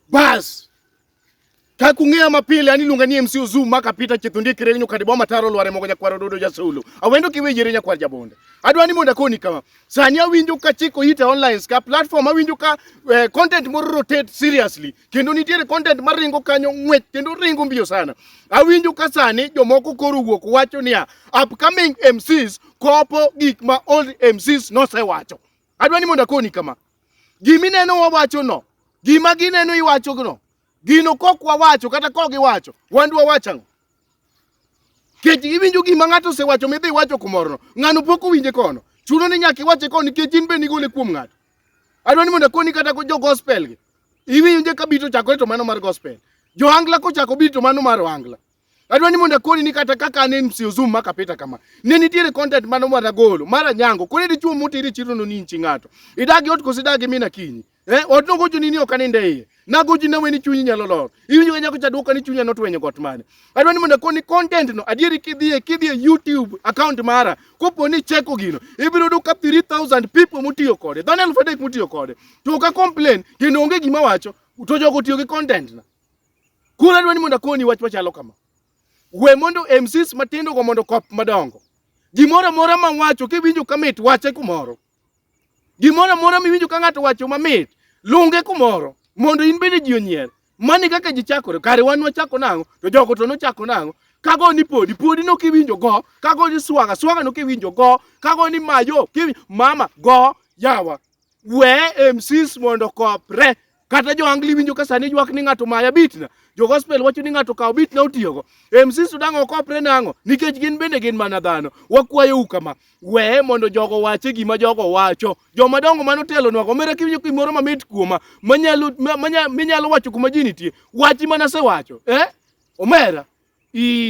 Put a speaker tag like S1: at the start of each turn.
S1: Bas. Ka kung'eya mapile ani luonga ni MC Ozu maka pita chithundi kiregi nyokadi boma taro lware mogo nyakwaro dodo jasulu. Awendo kiwejere nyakwar jabonde. Adwa ni monda koni kama. Sani awinjo ka chiko ita online ska platform awinjo ka eh, content moro rotate seriously. Kendo nitiere content maringo kanyo ng'wech kendo ringo mbiyo sana. Awinjo ka sani jomoko koro wuok wacho niya upcoming MCs kopo gik ma old MCs nosewacho. Adwa ni mondo akoni kama. Gima ineno wawachono, gima gineno iwachono, gino kok wawacho kata kok giwacho, wan dwa wacho ang'o? Kech iwinjo gima ng'ato osewacho midhi iwacho kumorono, ng'ano pok owinje kono. Chuno ni nyaka iwache kono nikech in be nigole kuom ng'ato. Adwa ni mondo akoni kata ko jo gospel gi. Iwinjo ka bito chakore to mano mar gospel. Johangla kochako bito mano mar ohangla. Adwa ni mondo akoni ni kata kaka ne msio zoom maka pita kama. Ne nitiere content mano mwana golo. Mara nyango. Kone dichuo mutiri chiro no ni nchi ng'ato. Idagi ot kosi dagi mina kinyi. Eh, ot no gojo nini ok aninde iye. Na gojo na weni chunyi nyalo lor. Iwinjo kanya kucha duoka ni chunya notwenyo got mane. Adwa ni mondo akoni content no adieri kidhie kidhie YouTube account mara. Kopo ni cheko gino. Ibiro duka 3000 people mutiyo kode. Dhano 1000 mutiyo kode. To ka complain kendo onge gima wacho. To jogo tiyo gi content na. Koro adwani mondo akoni wach machalo kama. We mondo MCs matindo go mondo kop madongo. Gimoro amora ma wacho kiwinjo kamit wache kumoro. Gimoro amora miwinjo ka ng'ato wacho mamit lunge kumoro mondo in bende ji onyier. Mani kaka ji chakore kare wan wachako nang'o to jogo to nochako nang'o kago ni podi podi no kiwinjo go kago ni swaga swaga no kiwinjo go kago ni mayo kiwinjo mama go yawa we MCs mondo kopre Kata jo angli winjo ka sani ywak ni ng'ato maya bitna. Jo gospel wacho ni ng'ato kawo bitna otiyogo. MC Sudan ok opre nang'o? Nikech gin bende gin mana dhano. Wakwayo u kama. Weye mondo jogo wache gima jogo wacho. Joma dongo mano telo nwago. Mera kiwinjo kimoro mamit kuoma. Manyalo, manyalo, minyalo wacho kuma ji nitie. Wachi mana se wacho. Eh? Omera. Ii.